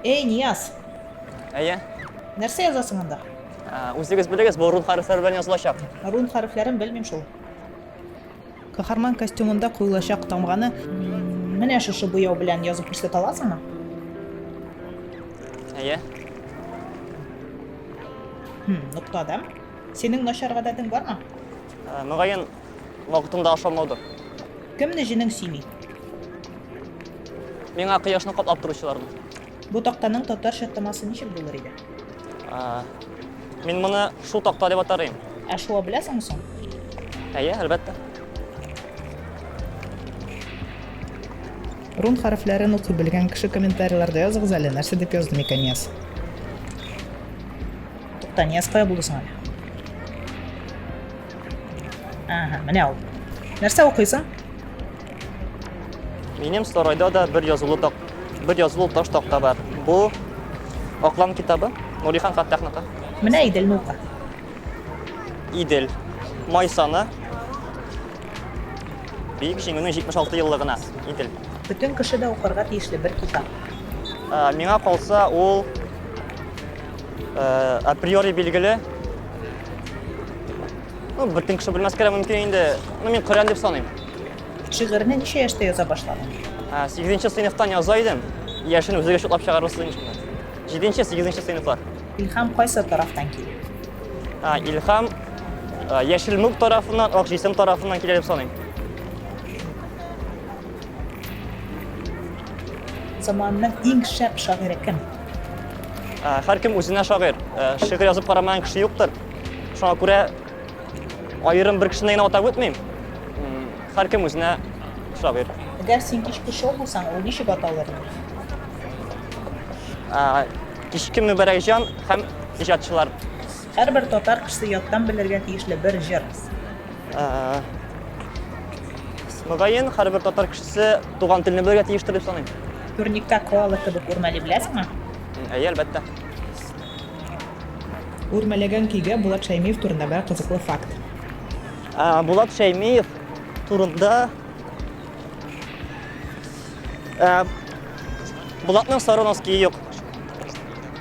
Эй, Нияз! Әйе? Нәрсә язасың анда? Ә, Үзегез белегез, бу рун хәрефләре белән язылачак. Рун хәрефләрен белмим шул. Каһарман костюмында куелачак тамганы менә шушы буяу белән язып күрсәтә аласыңмы? Әйе? Хм, нокта да. Синең начар гадәтең бармы? Ә, Мөгаен, Вакытында ашамаудыр. Кемне җенең сөйми? Миңа кояшны каплап торучыларны. Бу тактаның татарча тамасы ничек булыр иде? Мин моны шул такта дип атар идем. Ә шуа беләсеңме соң? Әйе, әлбәттә. Рун хәрефләрен укый белгән кеше комментарийларда языгыз әле, нәрсә дип язды микән Нияз? Тукта, Нияз кая булды соң әле? Ага, менә ул. Нәрсә укыйсың? Минем сарайда да бер язулы так, бер язулы таш такта бар. Бу Аклан китабы, Нурихан Фаттахныкы. Менә Идел нука. Идел. Май саны. Бик җиңүнең 76 еллыгына Идел. Бүтән кеше дә укырга тиешле бер китап. Миңа калса, ул априори билгеле ну бөтен кеше белмәскә дә мөмкин инде ну мин коръән дип саныйм шигырьне ничә яшьтә яза башладың сигезенче сыйныфтан яза идем яшен үзегез шутлап чыгарырсыз иншалла җиденче сигезенче сыйныфлар илһам кайсы тарафтан килә илһам яшел мүк тарафыннан ак җисем тарафыннан килә дип саныйм заманның иң шәп шагыйре кем Ә, һәркем үзенә шагыйрь. Ә, шигырь язып карамаган кеше юктыр. Шуңа күрә аерым бер кешене генә атап үтмим. М, Һәркем үзенә шагыйрь. Әгәр син кичке шоу булсаң, ул ничек аталыр? Ә, Кичке Мөбәрәк җан һәм иҗатчылар. Һәрбер татар кешесе яттан белергә тиешле бер җыр. Мөгаен, һәрбер татар кешесе туган телне белергә тиештер дип саныйм. Турникта коала кебек үрмәли беләсеңме? Әйе, әлбәттә. Үрмәләгән көйгә Булат Шәймиев турында бер кызыклы факт. Булат Шәймиев турында Булатның сары носкиы юк.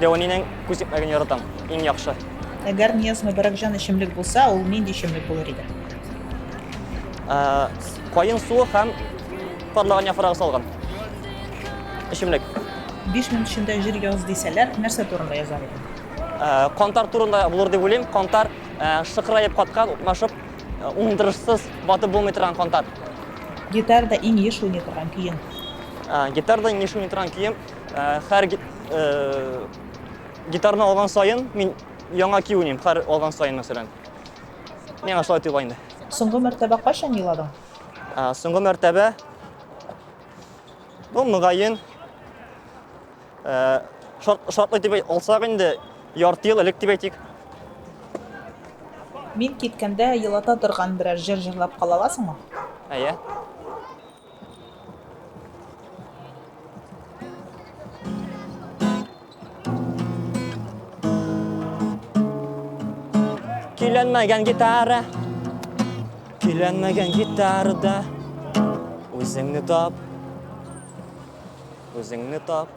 Дәванинең күз тикмәген яратам. Иң яхшы. Әгәр Нияз Мөбарәкҗан эчемлек булса, ул нинди эчемлек булыр иде? Каен суы һәм парлаган яфрагы салган эчемлек. Биш минут эчендә җыр яз дисәләр, нәрсә турында язар идең? Кантар турында булыр дип уйлыйм. Кантар шыкыраеп каткан, укмашып, уңдырышсыз батып булмый торган кантар. Гитарда иң еш уйный торган көең? Гитарда иң еш уйный торган көем Хәр гитарны алган саен мин яңа ки уйныйм, хәр алган саен мәсәлән. Миңа шулай тоела инде. Соңгы мәртәбә кайчан еладың? Соңгы мәртәбә бу мөгаен шартлы дип алсак инде ярты ел элек дип әйтик. Мин киткәндә елата торган берәр җыр җырлап кала аласыңмы? Әйе. Киленмәгән гитара Киленмәгән гитарада Үзеңне тап Үзеңне тап